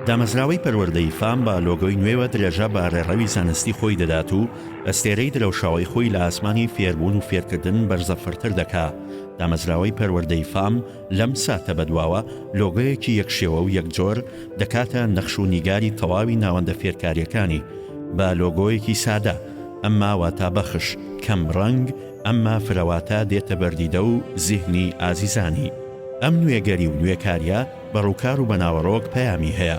دامەزراوەی پەروەردەی فام بە لۆگۆی نوێوە درێژە بە ڕێڕەوی زانستی خۆی دەدات و ئەستێرەی درەوشاوەی خۆی لە ئاسمانی فێربوون و فێرکردن بەرزە فرتر دەکا دامەزراوەی پەروەردەی فام لەم ساتە بەدواوە لۆگۆیەکی یەک شێوە و یەک جۆر دەکاتە نەخش و نیگاری تەواوی ناوەندە فێرکاریەکانی بە لۆگۆیەکی سادە ئەمما واتا بەخش کەم ڕەنگ ئەمما فرەواتە دێتە بەردیدە و زیهنی ئازیزانی ئەم نوێگەری و نوێکاریە بە ڕووکار و بە ناوەڕۆک پەیامی هەیە،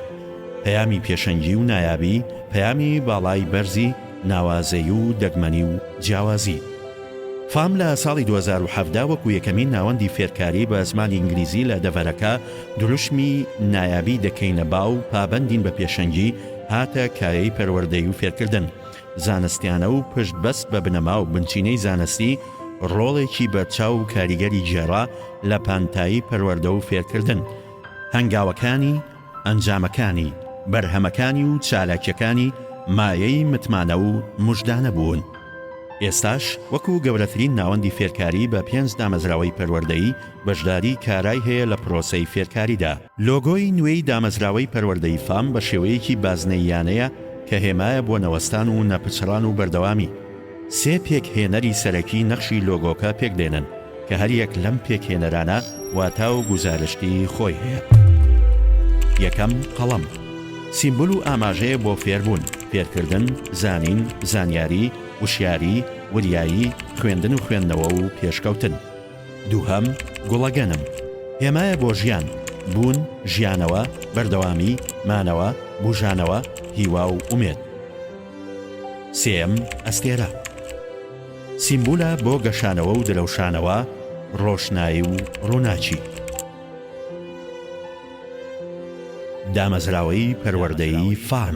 پەیامی پێشەنگی و نایابی، پەیامی باڵای بەرزی ناوازەیی و دەگمەنی و جیاوازی. فام لە ساڵی دوو هەزار و حەڤدە وەکو یەکەمین ناوەندی فێرکاری بە زمانی ئینگلیزی لە دەڤەرەکە دروشمی نایابی دەکەینە با و پابەندین بە پێشەنگی هاتە کایەی پەروەردەی و فێرکردن. زانستیانە و پشت بەست بە بنەما و بنچینەی زانستی، ڕۆڵێکی بەرچاو و کاریگەری گێڕا لە پانتایی پەروەردە و فێرکردن. هەنگاوەکانی، ئەنجامەکانی، بەرهەمەکانی و چالاکیەکانی مایەی متمانە و مژدانە بوون. ئێستاش وەکو گەورەترین ناوەندی فێرکاری بە پێنج دامەزراوەی پەروەردەیی بەشداری کارای هەیە لە پرۆسەی فێرکاریدا. لۆگۆی نوێی دامەزراوەی پەروەردەی فام بە شێوەیەکی بازنەییانەیە کە هێمایە بۆ نەوەستان و نەپچڕان و بەردەوامی. سێ پێکهێنەری سەرەکی نەخشی لۆگۆکە پێکدێنن کە هەریەک لەم پێکهێنەرانە واتا و گوزارشتی خۆی هەیە. یەکەم، قەڵەم، سیمبول و ئاماژەیە بۆ فێربوون، فێرکردن، زانین، زانیاری، وشیاری، وریایی، خوێندن و خوێندنەوە و پێشکەوتن. دووهەم، گوڵەگەنم، هێمایە بۆ ژیان، بوون، ژیانەوە، بەردەوامی، مانەوە، بووژانەوە، هیوا و ئومێد. سێیەم، ئەستێرە، سیمبولە بۆ گەشانەوە و درەوشانەوە، ڕۆشنایی و ڕووناکی. دامەزراوەی پەروەردەیی فان.